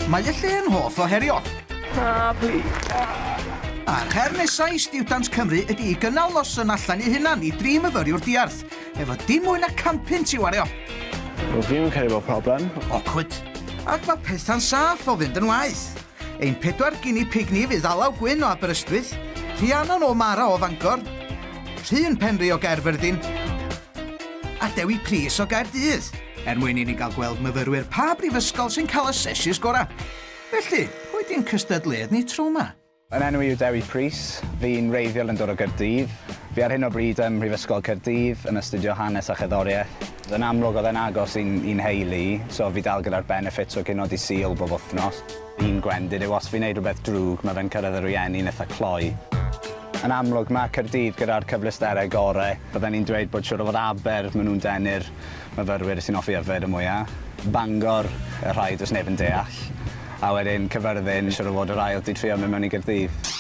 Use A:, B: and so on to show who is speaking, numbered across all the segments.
A: Mae y lle yn hoff o herio. Na, pli. A'r her nesau i Stiwdant Cymru ydy i gynnal noson allan i hunan i dri myfyriwr diarth, efo dim mwy na campyn ti wario. Rwyf fi'n
B: cael efo problem. Awkward.
A: Ac mae pethau'n saff o fynd yn waith. Ein pedwar gini pig ni fydd Alaw Gwyn o Aberystwyth, Rhiannon o Mara o Fangor, Rhun Penri o Gaerfyrddin, a Dewi Prys o Gaerdydd er mwyn i ni gael gweld myfyrwyr pa brifysgol sy'n cael y seshis gorau. Felly, pwy di'n cystadleuadd ni tro 'ma? Fy enw i yw Dewi
C: Prys, fi'n wreiddiol yn dod o Gaerdydd. Fi ar hyn o bryd ym Mhrifysgol Caerdydd yn astudio Hanes a Cherddoriaeth. Yn amlwg oedd e'n agos i'n i'n nheulu i, so fi dal gyda'r benefits o gino Dydd Sul bob wythnos. Un gwendid yw os fi'n neud rhywbeth drwg, ma' fe'n cyrraedd y rhieni'n itha cloi. Yn amlwg, ma' Caerdydd gyda'r cyfleusterau gore. Bydden i'n dweud bod siŵr o fod Aber, ma' nhw'n denu'r myfyrwyr sy'n hoffi yfed y mwya', Bangor, y rhai does neb yn deall, a wedyn Cyfyrddin, siŵr o fod yr ail 'di trio mynd mewn i Gaerdydd.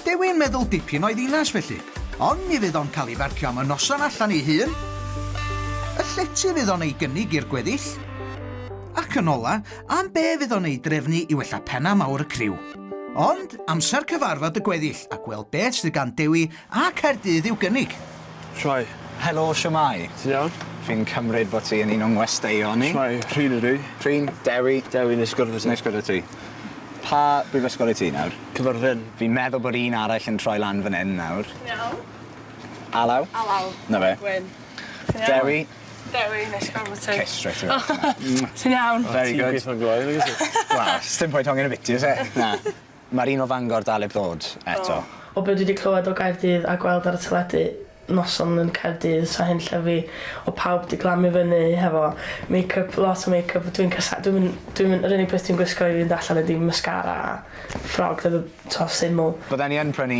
C: Dw
A: i'n meddwl dipyn o'i ddinas felly, ond mi fydd o'n cael ei farcio am y noson allan ei hun, y llety fydd o'n ei gynnig i'r gweddill, ac yn ola', am be fydd o'n ei drefnu i wella penna mawr y criw. Ond amser cyfarfod y gweddill a gweld beth sydd gan Dewi a Caerdydd i'w gynnig. Shwmae?
B: Helo, shwmae?
C: Ti'n iawn? Fi'n
B: cymryd bod
C: ti yn un o'n ngwesteion ni. Shwmae, Rhun ydw i.
B: Rhun, Dewi. Dewi,
C: neis gwrdd â ti. Neis
B: gwrdd â ti.
C: Pa brifysgol i ti nawr? Cyfyrddin. Fi'n meddwl
B: bod un
C: arall yn troi lan fan hyn nawr. Ti'n
D: iawn? Alaw?
C: Alaw. 'Na fe.
D: Gwyn. Ti'n
C: iawn?
D: Dewi.
C: Dewi
D: neis gweld ti. Kiss straight
C: away. Mwah. Ti'n iawn? Very
D: good. Ti'n
C: peth
B: mor glou â fi wyt ti. Wel, sdim pwynt hongian
C: y biti o's e? Na. Ma'r un o Fangor dal 'eb ddod eto. O. O be dwi 'di clywed
E: o Gaerdydd a gweld ar y teledu, noson yn Caerdydd sa hyn lle fi, o pawb 'di glamu fyny hefo makeup, lot o makeup, dwi'n casau- dwi'm yn dwi'm yn yr unig peth dwi'n gwisgo i fynd allan ydi mascara a ffrog efo to syml. Bydden i yn prynu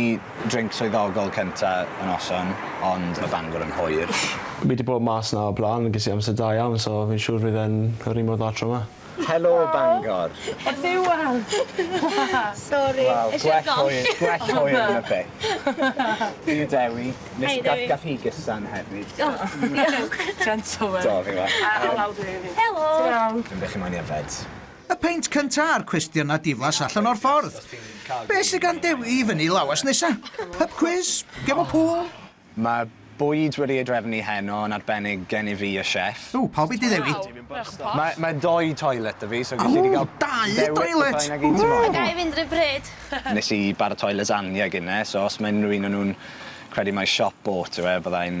C: drinc swyddogol cynta y noson, ond ma Bangor yn hwyr. Fi di bod mas
B: na o'r blaen a ges i amser da iawn so fi'n siŵr fydd e'n yr un mor dda tro ma. Helo Bangor!
C: Ers Iwan!
D: Sori! Wel, gwell
C: hwyr, gwell hwyr na byth. Fi yw Dewi. Hei Dewi. Nes gall hi gysan hefyd. O, diolch.
D: Gentleman. Do, fi'n
C: gwel'. Helo!
D: Ti'n iawn? Dwi'n
F: beth chi moyn
D: i yfed?
C: Y peint
A: cynta a'r cwestiyna diflas allan o'r ffordd. Be sy gan Dewi i fyny lawas nesa? Pub cwis? Gem o pŵl? Mae
C: bwyd wedi ei drefnu heno yn arbennig gen i fi a Chef. Ww, pawb i dy Ddewi.
A: Mae mae
C: dou toilet 'da fi so gell di gael dewis o pa un ag
A: un ti moyn. A ga i fynd
F: run pryd? Nes i
C: baratoi lasagne gine so os mae unrhyw un o nhw'n credu mai siop oat yw e fyddai'n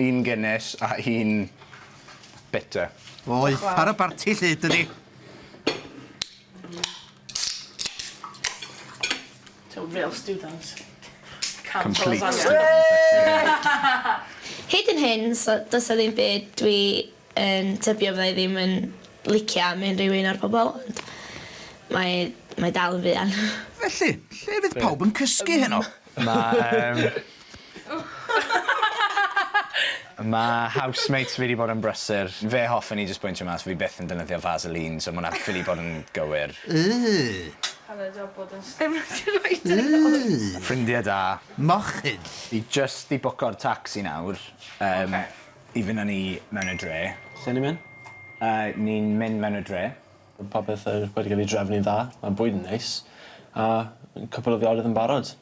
C: Un Guinness a un bitter. Oeth
A: ar y barti lly, dydi? To real
E: students.
C: Complete students.
F: Hyd yn hyn, so does 'na ddim byd dwi yn tybio fydda i ddim yn licio am unrhyw un o'r pobl, ond mae mae dal yn fuan. Felly, lle
A: fydd pawb yn cysgu heno? Ma' yym...
C: Ma' housemates fi 'di bod yn brysur. Fe hoffen i jyst bwyntio mas fi byth yn defnyddio Vaseline so ma' wnna ffili bod yn gywir. Yyy!
D: Hanner job bod yn Yyy! Ffrindie da.
C: Mochyn!
A: Fi jyst 'di
C: bwco'r tacsi nawr yym... Oce. ...i fyn' â ni mewn y dre. Lle ni myn'?
B: Yy ni'n
C: mynd mewn y dre. Mae popeth yr
B: wedi cael ei drefnu'n dda, mae bwyd yn neis, a cwpwl o fiorydd yn barod.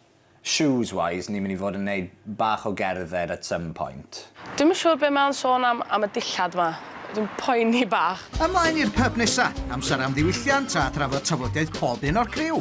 B: Shoes wise
C: ni'n mynd i fod yn neud bach o gerdded at some point. Dwi'm yn siŵr be mae
D: o'n sôn am am y dillad 'ma. Dwi'n poeni bach. Ymlaen i'r pyb
A: nesa! Amser am ddiwylliant a thrafod tafodiaith pob un o'r criw!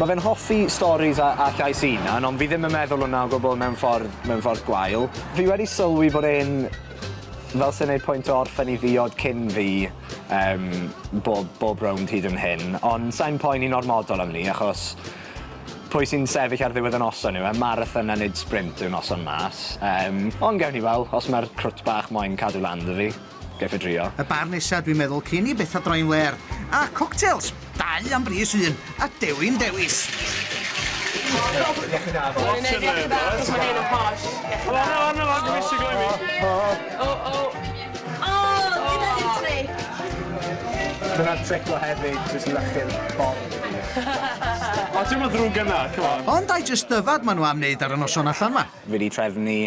C: Ma fe'n hoffi storis a a llais 'i unan ond fi ddim yn meddwl wnna o gwbwl mewn ffordd mewn ffordd gwael. Fi wedi sylwi bod e'n fel sa'n neud pwynt o orffen 'i ddiod cyn fi yym bob bob rownd hyd yn hyn ond sai'n poeni'n ormodol am 'ny achos pwy sy'n sefyll ar ddiwedd y noson yw e? Marathon a nid sprint yw'r noson mas. Yym ond gewn ni wel' os ma'r crwt bach moyn cadw lan 'da fi. Geith e drio. Y bar nesa dwi'n meddwl
A: cyn i betha droi'n flêr. A coctels! Dau am bris un, a dewin dewis!
B: Ond ai jyst dyfad ma
A: nhw am neud ar y noson allan ma? Fi di trefnu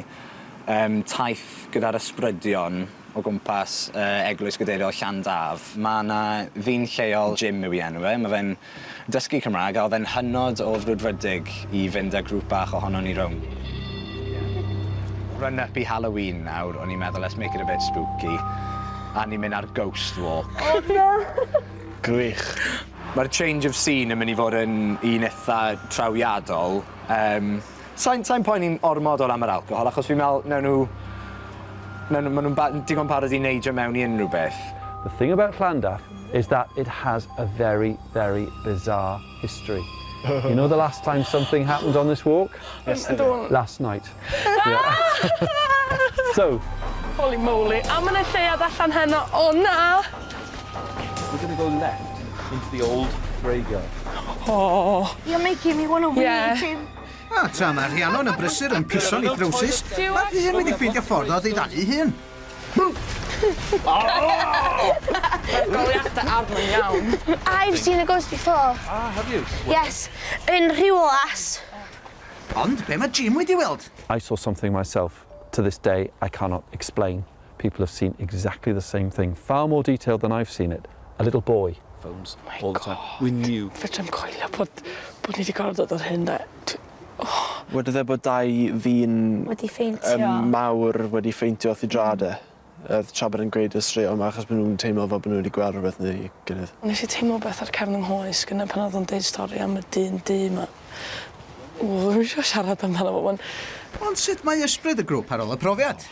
C: Yym taith gyda'r ysbrydion o gwmpas yy Eglwys Gadeiriol Llandaf. Ma' 'na ddyn lleol, Jim yw 'i enw e, ma' fe'n dysgu Cymra'g a odd e'n hynod o frwdfrydig i fynd â grŵp bach ohonon ni rownd. Run up i Halloween nawr, o'n i'n meddwl let's make it a bit spooky a ni'n myn' ar ghost walk. O na!
D: Gwych.
B: Ma'r
C: change of scene yn myn' i fod yn un itha trawiadol, yym. Sai'n sai'n poeni'n ormod o ran yr alcohol achos fi'n me'wl newn nhw newn nhw ma' nhw'n ba- digon parod i neidio mewn i unrhyw beth. The thing about
G: Llandaff is that it has a very, very bizarre history. You know the last time something happened on this walk? Yesterday. Last
D: night.
G: So. Holy
D: moly! A ma' 'na lleuad allan heno. O na!
G: We're gonna go left into the old graveyard. Oh.
D: You're making me
F: wanna wee yeah. Tim.
D: A
F: tra mae
A: Rhiannon yn brysur yn piso'n ei drowsus, mae Rhian wedi ffeindio ffordd o ddiddalu ei hun.
D: Goliathau arno iawn. I've seen a ghost
F: before. Ah, have you?
G: Yes, yn
F: Rhiwlas. Ond
A: be mae Jim wedi weld? I saw something
G: myself. To this day, I cannot explain. People have seen exactly the same thing, far more detailed than I've seen it. A little boy. Phones oh all the time. We knew. Fedrai'm coelio bod,
D: bod ni wedi gorfod dod o'r hyn da. Oh.
B: Wedodd e bod dau ddyn... Wedi ffeintio. Um,
F: mawr wedi
B: ffeintio wrth i drad e. Oedd tra bod yn gweud y straeon yma achos bod nhw'n teimlo fel bod nhw wedi gweld rhywbeth neu gilydd. Nes i teimlo beth ar
D: cefn yng nghoes gyda pan oedd o'n deud stori am y dyn du yma. Ww, ddim eisiau siarad amdano fo. Ond sut mae
A: ysbryd y grŵp ar ôl y profiad?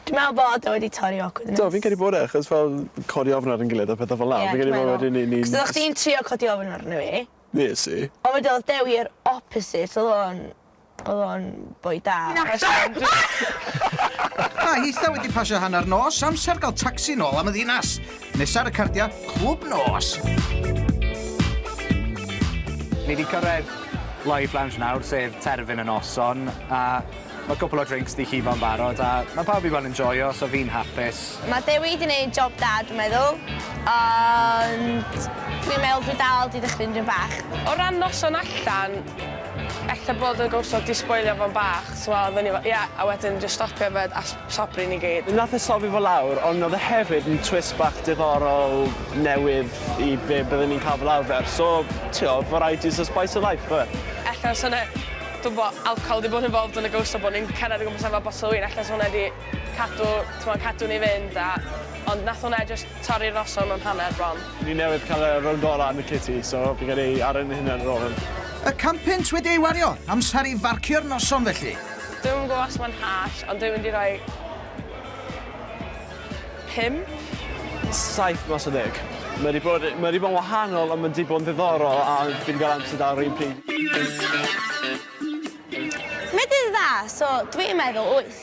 A: Dwi me'wl
F: bod o wedi torri awkwardness. Do fi'n credu bod e achos fel
B: codi ofn ar 'yn gilydd a petha fel 'a. Ie dwi meddwl. Fi'n credu bo' wedyn ni ni'n... 'C'os oddach chdi'n trio codi
F: ofn arno fi. Nes i? On'
B: wedyn odd Dewi yr
F: opposite odd o'n odd o'n boi da.
A: Mae hitha wedi pasio hanner nos, amser ga'l tacsi nôl am y ddinas. Nesa ar y cardia, clwb nos.
C: Ni 'di cyrredd Live Lounge nawr sef terfyn y noson a Mae cwpl o drinks 'di llifo'n barod a mae pawb i weld yn joio so fi'n hapus. Mae Dewi 'di neud
F: job da dwi'n meddwl ond dwi'n meddwl dwi dal 'di dychryn dipyn bach. O ran noson
D: allan, ella bod y ghost 'di sboilio fo'n bach, so odd o'n i fel ie a wedyn jyst stopio yfed a sobri ni gyd. Nath e sobri fo lawr
B: ond odd e hefyd yn twist bach diddorol newydd i be' bydden ni'n ca'l fel arfer so t'wo' variety is the spice of life yfe? Ella os o' 'na
D: Dwi'n gwybod bod alcohol wedi bod yn involved yn y ghost a bod ni'n cerdded o gwmpas efo botel o win, ella 'sa hwnna wedi cadw, t'mod, cadw ni fynd a... Ond nath hwnna jyst torri'r noson mewn hanner bron. Ni newydd cael y
B: rownd gorau yn y city, so fi'n credu ar ein hunain ar ôl hwn. Y can punt
A: wedi ei wario, amser i farcio'r noson felly. Dwi'm yn gwybod os
D: mae'n harsh, ond dwi'n mynd i roi... Pump? Saith
B: mas o ddeg. Mae wedi bod, mae wedi bod yn wahanol ond mae wedi bod yn ddiddorol a fi wedi cael amser da ar yr un pryd.
F: Mae dydd dda, so dwi yn meddwl wyth.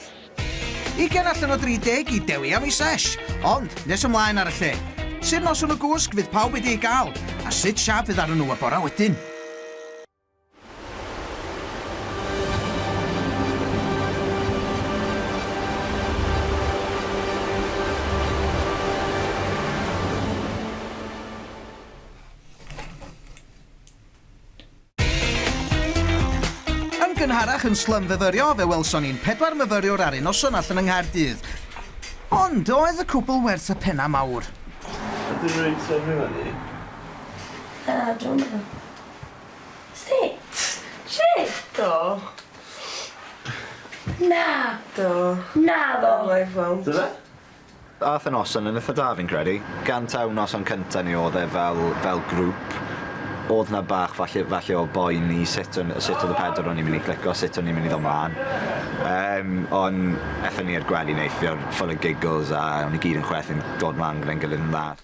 F: Ugain
A: allan o 30 i dewi am ei sesh, ond nes ymlaen ar y lle. Sut noson o gwsg fydd pawb wedi ei gael, a sut siâp fydd arnyn nhw y bora wedyn? gynharach yn slym fyfyrio, fe welson ni'n pedwar myfyriwr ar un noson allan yng Nghaerdydd. Ond oedd y cwbl werth y penna mawr. Ydyn nhw'n
B: sefyll fyny?
F: Na, dwi'n meddwl. Sut? Shut do. Na.
D: Do. Naddo. No I won't.
B: Do fe?
C: Ath y noson yn itha da fi'n credu. Gan taw noson cynta ni odd e fel fel grŵp odd
H: 'na bach falle falle o boen i sut o'n sut odd y pedwar o'n ni myn' i clico sut o'n ni myn' i ddo' mlan. Yym on' ethon ni i'r gwely neithiwr full o giggles a o'n ni gyd yn chwerthin dod mlan gyda'n gilydd yn dda.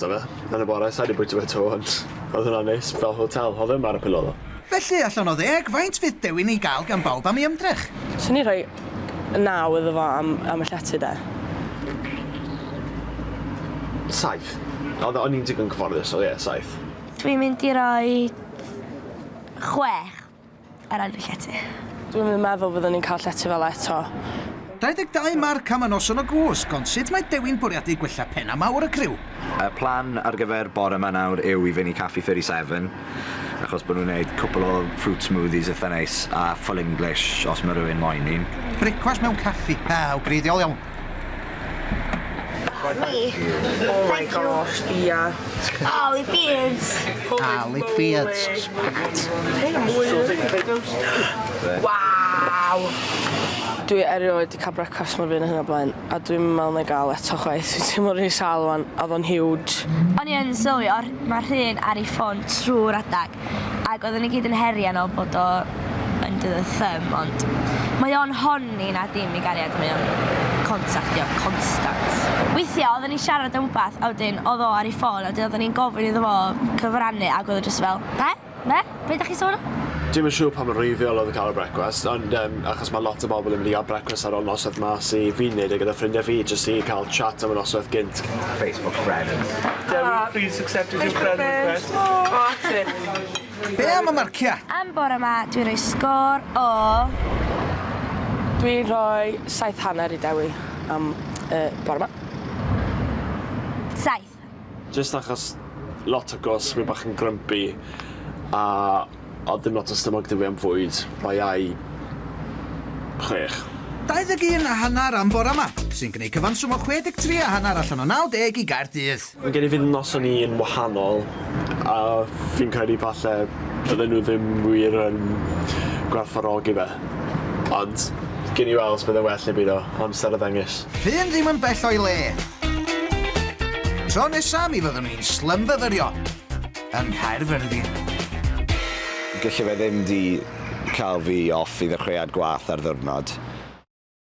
B: Dyna fe. Yn y bore, sa i 'di bwyta fe 'to, ond oedd hwnna'n neis, fel hotel, oedd e ddim ar y Pilolo. Felly, allan o ddeg,
A: faint fydd dewin ei gael gan bawb am ei ymdrech? Swn i'n rhoi
D: naw iddo fo am am y llety de.
B: Saith. Oedd e, o'n i'n digon cyfforddus, so ie, saith. Dwi'n mynd i
F: roi chwech. eraill y llety. Dwi'm yn meddwl
D: fyddwn ni'n cael llety fel 'na eto. 22
A: marc am y noson o gwsg, ond sut mae Dewi'n bwriadu gwella pen a mawr y criw? Y plan
H: ar gyfer bore yma nawr yw i fynd i Caffi 37, achos bod nhw'n gwneud cwpl o fruit smoothies eitha neis, a full English os mae rhywun moyn un. Brecwast mewn caffi,
A: ah, o greiddiol iawn. Hei!
E: Oh my gosh, ia. Aly
F: Beards! Aly
A: Beards, spat.
E: Waw! Dwi
D: erioed di cael brecwast mor fyr na hyn o blaen, a dwi'm yn meddwl na i gael eto chwaith. Dwi'n teimlo rili sâl wan, a oedd o'n huge. O'n i yn sylwi,
F: mae rhun ar ei ffon trwy'r adag. Ac oedden ni gyd yn herian o bod o under the thumb ond mae o'n honni na dim i gariad mae o'n contactio constant. Weithia oedden ni'n siarad am wbath a wedyn oedd o ar ei ffôn a wedyn oedden ni'n gofyn iddo fo cyfrannu ac oedd o jyst fel, be? Be? Be 'da chi'n sôn am? Dwi'm yn siŵr pa mor
B: wreiddiol oedd y cael y brecwast ond yym achos So mae lot o bobl yn mynd i gael brecwast ar ol noswaith ma sy fi'n neud e gyda ffrindiau fi jyst i cael chat am y noswaith gynt. Facebook friends. Dewi
H: please accept
B: as your friend request. O Artur. Be am
A: y marcia? Am bore ma dwi'n
F: rhoi sgôr o... Dwi'n
D: rhoi saith hanner i Dewi am y bore ma.
F: Saith. Jyst
B: achos lot o gos fi bach yn grumpy a odd dim lot o stumog da fi am fwyd bai ai chwech. 21
A: a hanner am bore ma, sy'n gneud cyfanswm o 63 a hanner allan o 90 i Gaerdydd. Mae gen i fy noson
B: i yn wahanol a fi'n credu falle bydden nhw ddim wir yn gwerthfawrogi fe ond gewn ni weld os bydd e'n well neu beidio, amser a ddengys. Rhun ddim yn bell o'i
A: le. Tro nesa mi fyddwn ni'n slymfyfyrio yng Nghaerfyrddin.
H: Gelle fe ddim di cael fi off i ddechreuad gwath ar ddiwrnod.